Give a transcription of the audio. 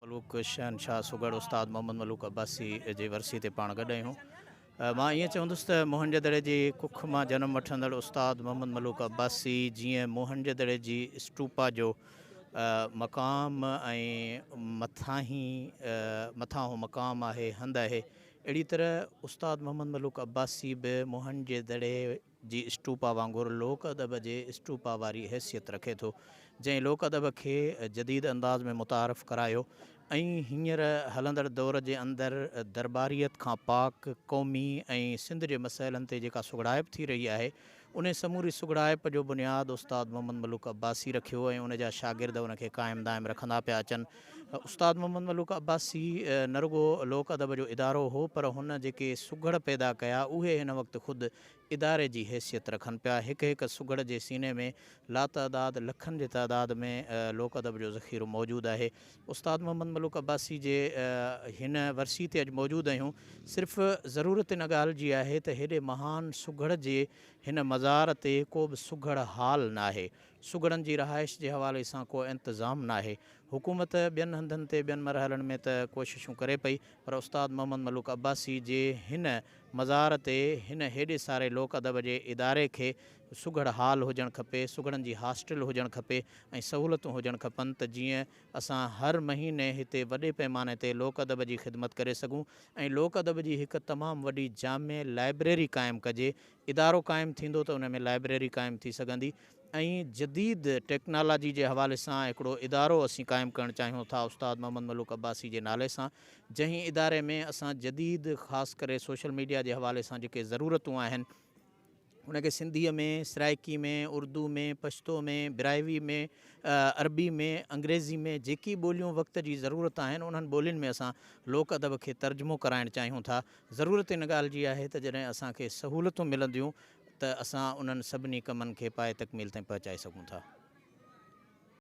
ملوڪ شهنشاهه سگهڙ استاد محمد ملوڪ عباسي جي ورسي تي پاڻ گڏ آهيون مان ائين چوندس ته موهن جي دڙي جي ڪک مان جنم وٺندڙ استاد محمد ملوڪ عباسي جيئن موهن جي دڙي جي اسٽوپا جو مقام ۽ مٿاهي مٿاهون مقام آهي هنڌ آهي اهڙي طرح استاد محمد ملوڪ عباسي به موهن جي دڙي جي اسٽوپا وانگر لوڪ ادب جي اسٽوپا واري حيثيت رکي ٿو، جنهن لوڪ ادب کي جديد انداز ۾ متعارف ڪرايو ۽ هينئر هلندڙ دور جي اندر درٻاريت کان پاڪ قومي ۽ سنڌ جي مسئلن تي جيڪا سگهڙائپ ٿي رهي آهي، انهي سموري سگهڙائپ جو بنياد استاد محمد ملوڪ عباسي رکيو ۽ ان جا شاگرد ان کي قائم دائم رکندا پيا اچن. استاد محمد ملوڪ عباسي نه رڳو لوڪ ادب جو ادارو هو، پر هن جيڪي سگهڙ پيدا ڪيا، اهي هن وقت خود اداري جي حيثيت رکن پيا. هڪ هڪ سگهڙ جي سيني ۾ لاتعداد لکن جي تعداد ۾ لوڪ ادب جو ذخيرو موجود آهي. استاد محمد ملوڪ عباسي جي هن ورسي تي اڄ موجود آهيون. صرف ضرورت ان ڳالهه جي آهي ته هيڏي مهان سگهڙ جي هن مزار تي ڪو به سگهڙ هال ناهي. سگهڙن جي رهائش جي حوالي سان ڪو انتظام ناهي. حڪومت ٻين هنڌن تي ٻين مرحلن ۾ ته ڪوششون ڪري پئي پر استاد محمد ملوڪ عباسي جي هن مزار تي هن هيڏي ساري لوڪ ادب جي اداري کي سگهڙ هال هجڻ کپي، سگهڙن جي هاسٽل هجڻ کپي ۽ سهولتون هجڻ کپن ته جيئن اسان هر مهيني هتي وڏي پيماني تي لوڪ ادب جي خدمت ڪري سگهون ۽ لوڪ ادب جي هڪ تمام وڏي جامع لائبريري قائم ڪجي، ادارو قائم ٿيندو ته ان ۾ لائبريري قائم ٿي سگهندي ۽ جديد ٽيڪنالاجي جي حوالي سان هڪڙو ادارو اسين قائم ڪرڻ چاهيون ٿا استاد محمد ملوڪ عباسي جي نالي سان جنهن اداري ۾ اسان جديد خاص ڪري سوشل ميڊيا جي حوالي سان جيڪي ضرورتون آهن ان کي سنڌيء ۾ سرائڪي ۾ اردو ۾ پشتو ۾ براهوي ۾ عربي ۾ انگريزي ۾ جيڪي ٻوليون وقت جي ضرورت آهن انهن ٻولين ۾ اسان لوڪ ادب کي ترجمو ڪرائڻ چاهيون ٿا ضرورت ان ڳالهه جي آهي ته جڏهن اسان کي سهولتون ملنديون ته اسان انهن سڀني ڪمن کي پايه تڪميل تائين پهچائي سگهون ٿا.